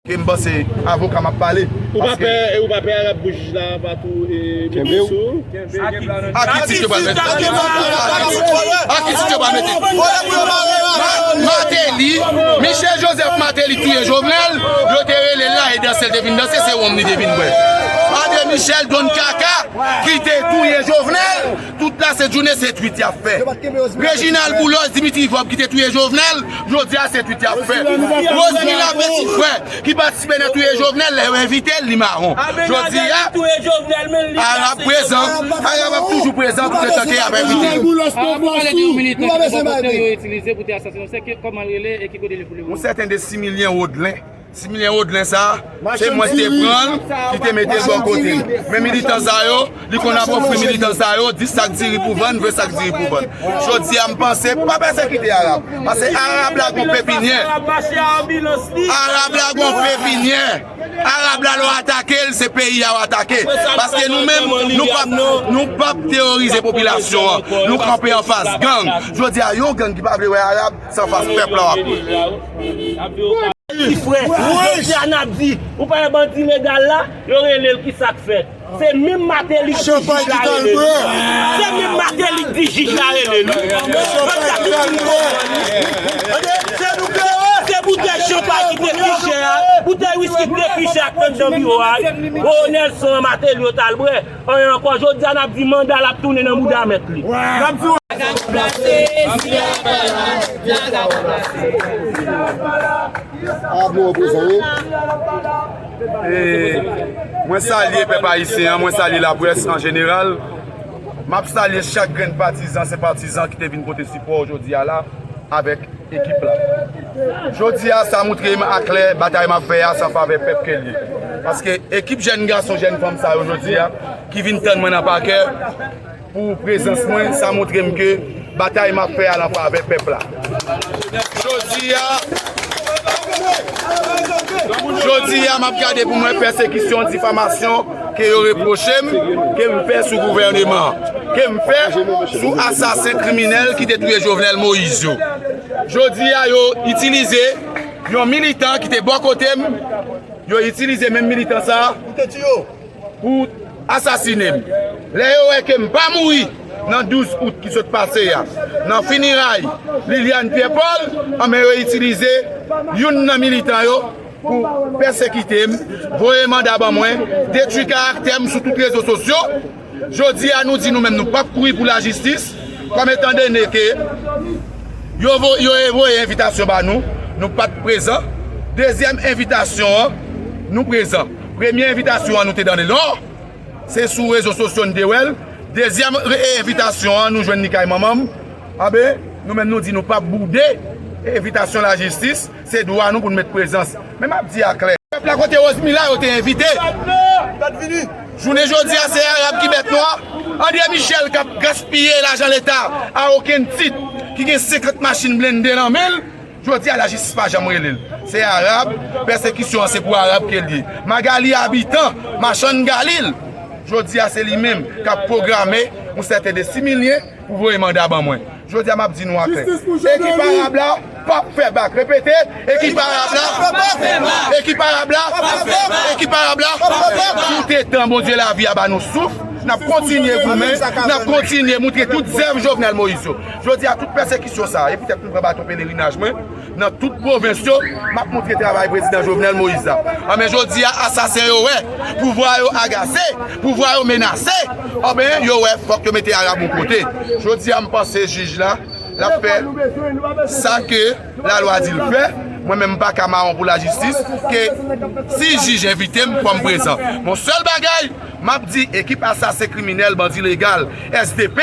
E m panse avoka m ap pale. Ou pa pè, e ou pa pè arab pou jij la pa tou mete l sou ou? A ki tit yo pral mete l sou ou? A ki tit yo pral mete l sou ou? Mateli, Michel Joseph Mateli touye Jovenel, yo te rele l la e danse l te vin danse, se wonm li te vin bwè. Andre Michel, don kaka, ki te touye Jovenel, Tout la sent jounen se tweet yap fè. Reginald boulos Dimitri Vorb ki te touye Jovenel jodi a se tweet yap fè. Rosemila petit frè ki patisipe nan touye Jovenel lè yo envitel li maron. Jodi a Arab prezan, Arab ap toujou prezan tout letan ke yap envitel. Yon sèten de Similien Rodelin. Ti milen rodlen sa se mwen ki te pranl ki te metel bò kotem men militan sa yo li konn ap ofri militan sa yo 10 sak diri pou vann 20 sak diri pou vann jodia m panse pou pa pèsekite arab pase arab la gon pepinyè arab la gon pepinyè arab la lè w atake l se peyi a w atake paske nou menm nou pap nou pap teorize popilasyon an nou kanpe anfas gang jodia yon gang ki pa vle wè arab San fas pèp la wap peye. Ti frè, jodi a nap di, ou pa wè bandi legal la, yo rele l ki sak fèt. Se minm Mateli k di jij la rele l. Se minm Mateli k di jij la rele l. Pèp la ki fin konprann li. Se nou k ere. Se boutèy chanpay ki te pi chè a, boutèy wiski k te pi chè ak tann jan biwo a, Bowo Nèlson an Mateli yo t al bwè. Anyen ankò, jodi a n ap di manda l ap tounen nan bouda mèt li. N ap di. Vagabon plase, zile a pa la, vagabon plase. Zile a pa la, zile a pa la. A bon reprezan wi. Zile a pa la. E mwen salye pèp ayisyen an, mwen salye laprès an jeneral. M ap salye chak grenn patizan, senpatizan ki te vin pote sipò jodi a la avèk. ekip la. Jodi a sa moutre m a klè batay m ap fè a se an favè pèp ke l ye. Paske ekip jèn gason, jèn fanm sa yo jodi a ki vin tann mwen nan pakè pou prezans mwen sa moutre m ke batay m ap fè a lan favè pèp la. Jodi a, jodi a m ap gade pou m wè pèsekisyon, difamasyon. ke yo repwoche m ke m fè sou gouvèneman an, ke m fè sou asasen kriminèl ki te touye Jovenel Moïse yo. Jodi a yo itilize yon militan ki te bò kote m, yo itilize menm militan sa a pou asasine m. Lè yo wè ke m pa mouri nan 12 out ki sot pase a, nan finiray Liliane Pierre Paul, anben yo itilize youn nan militan yo, pou pèsekite m, voye manda ban mwen, detwi karaktè m sou tout rezo sosyo, jodi a nou di nou menm nou pap kouri pou lajistis, kòm etan done ke yo voye envitasyon ba nou, nou pat prezan, dezyèm envitasyon an nou prezan, premye envitasyon an nou te done l, se sou rezo sosyo nou te wè l, dezyèm envitasyon an nou jwenn li kay manman m, anben nou menm nou di nou pap boude envitasyon lajistis. Se dwa nou pou nou met prezans. Men map di a klè. Pèp la kote Rosmila yo te envite. Jounen jodi a se Arab ki mèt nou a. Andre Michel kap gaspiye lajan leta a okenn tit. Ki gen 50 machin blende nan men l. Jodi a lajistis pa janm rele l. Se Arab. Pèsekisyon an se pou Arab ke l ye. Magalie Habitant, machann Galil. Jodi a se li menm kap pwograme yon sèten de similyen. Pou voye manda ban mwen. Jodi a map di nou aklè. Ekip Arab la pap fè bak. Repete, Ekip Arab la pap fè bak. Ekip Arab la pap fè bak. Ekip Arab la pap fè bak. Tout etan Bondye lavi a ba nou souf, nap kontinye goumen, nap kontinye moutre tout zèv Jovenel Moïse yo. Jodi a tout pèsekisyon sa e poutèt m pran baton pelerinaj mwen. Nan tout pwovens yo, m ap montre travay Prezidan Jovenel Moïse la. Anben jodi a, asasen yo wè, pouvwa yo agase, pouvwa yo menase, anben yo wè fòk yo mete Arab yon kote. Jodi a m panse jij la, l ap fè sa ke lalwa di l fè. Mwen menm m pa ka mawon pou lajistis, ke si jij envite m, fò m prezan. Bon sèl bagay, m ap di ekip asasen kriminèl bandi legal, SDP,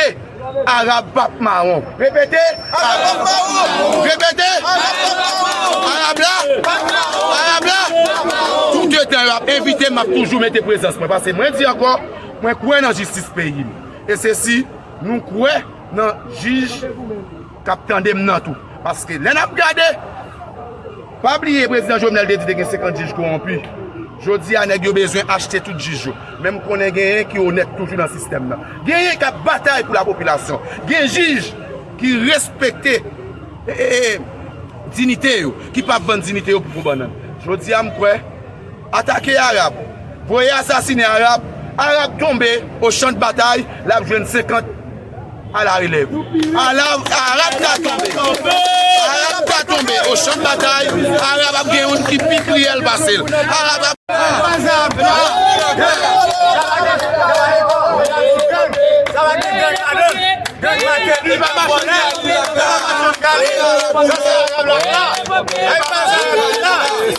Arab pap mawon. Repete, Arab pap mawon. Repete, Arab pap mawon. Arab la pap mawon. Arab la pap mawon. Tout etan yo ap envite m, m ap toujou mete prezans mwen. Pase mwen di ankò, mwen kwè nan jistis peyi m. E se si nou kwè nan jij. kap tandem nan tou paske lè nap gade pa bliye prezidan jovenel te di te gen 50 jij kowonpi jodia nèg yo bezwen achte tout jij yo men m konnen genyen ki onèt toujou nan sistèm nan genyen kap batay pou la popilasyon gen jij ki respekte dinite yo ki pap vann dinite yo pou gwo bannann jodia m kwè Atake Arab, voye asasine Arab, Arab tonbe o chan de batay, lap jwenn 50 a la relèv. Arab ka tonbe, Arab ka tonbe o chan de batay, Arab ap gen youn ki pi kriyèl pase l, Arab ap.